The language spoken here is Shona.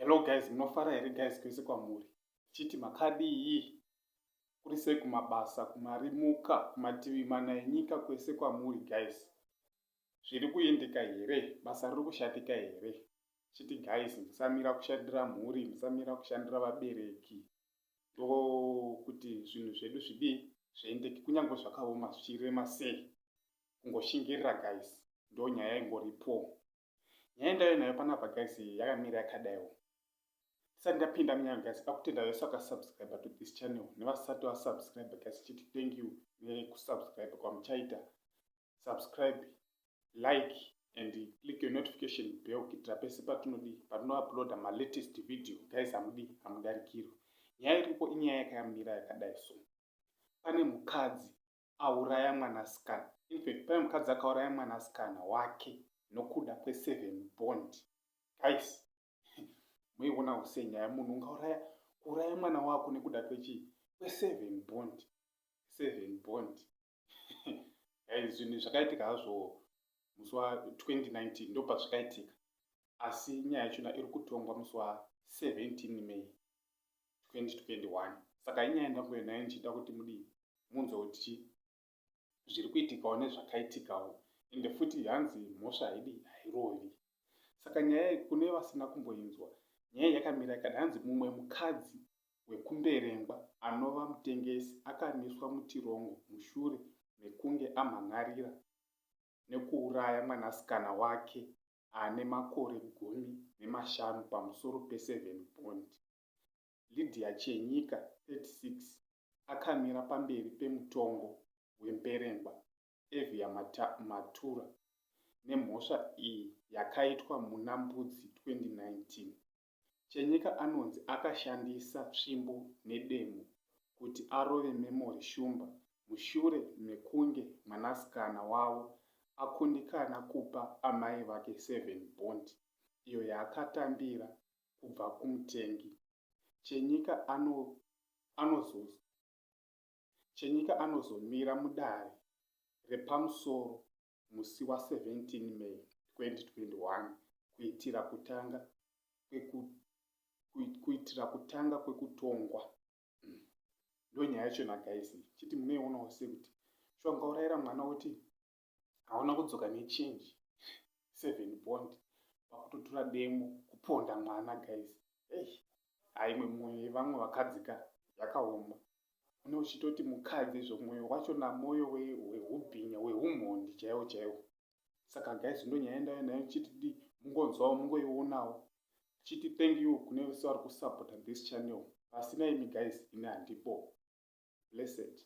Hello guys, munofara here guys kwese kwamuri? Chiti makadii? Kuri sei kumabasa, kumarimuka, kumativi mana enyika kwese kwamuri guys? Zviri kuendeka here? Basa riri kushatika here? Chiti guys, musamira kushandira mhuri, musamira kushandira vabereki. ndokuti zvinhu zvedu zvidii zviendeke kunyange zvakaoma zvichirema sei kungoshingirira guys ndo nyaya ingoripo nyaya ndaive nayo panapa guys yakamira yakadaiwo tisati ndapinda munyaya guys pakutenda vese vakasubscribe to this channel nevasati vasubscribe guys chiti thank you nekusubscribe kwamuchaita subscribe like and click your notification bell kuitira pese patinodii patinouploada malatest video guys hamudii hamudarikirwi nyaya iripo inyaya yakayamira yakadai so pane mukadzi auraya mwanasikana infact pane mukadzi akauraya mwanasikana wake nokuda kweseven bond guys muiona use nyaya munhu ungauraya kuuraya mwana wako nekuda kwechii kweseven bond seven bond guys zvinhu zvakaitika hazvo musi wa 2019 ndo pazvikaitika asi nyaya yachona iri kutongwa musi wa 17 may 2021 saka inyaya ndanguyo nayo ndichida kuti mudii munzwa kuti chii zviri kuitikawo nezvakaitikawo ende futi hanzi mhosva haidi hairovi saka nyaya kune vasina kumboinzwa nyaya yakamira ikada hanzi mumwe mukadzi wekuMberengwa anova mutengesi akamiswa mutirongo mushure mekunge amhan'arira nekuuraya mwanasikana wake ane makore gumi nemashanu pamusoro peSeven Bond. Lydia Chenyika, 36, akamira pamberi pemutongo weMberengwa Evia Matura nemhosva iyi yakaitwa muna Mbudzi 2019. Chenyika anonzi akashandisa tsvimbo nedemo kuti arove Memory Shumba mushure mekunge mwanasikana wavo akundikana kupa amai vake seven bond iyo yaakatambira kubva kumutengi. Chenyika ano anozo Chenyika anozomira mudare repamusoro musi wa 17 May 2021 kuitira kutanga kweku kuitira kutanga kwekutongwa mm. ndonyaya yacho na guys chiti munoionawo sekuti shuwa ungaurayira mwana woti hauna kudzoka nechange seven bond pakutotura demo kuponda mwana guys ei haimwe mwoyo yevamwe vakadzika yakaoma une uchitoti mukadzi izvo mwoyo wacho namwoyo wehubhinya wehumhondi chaiwo chaiwo saka guys ndonyaya ndaiyo nayo ndichiti di mungonzwawo mungoionawo ndichiti thank you kune vese vari kusupporta this channel pasina imi guys ini handipo blessed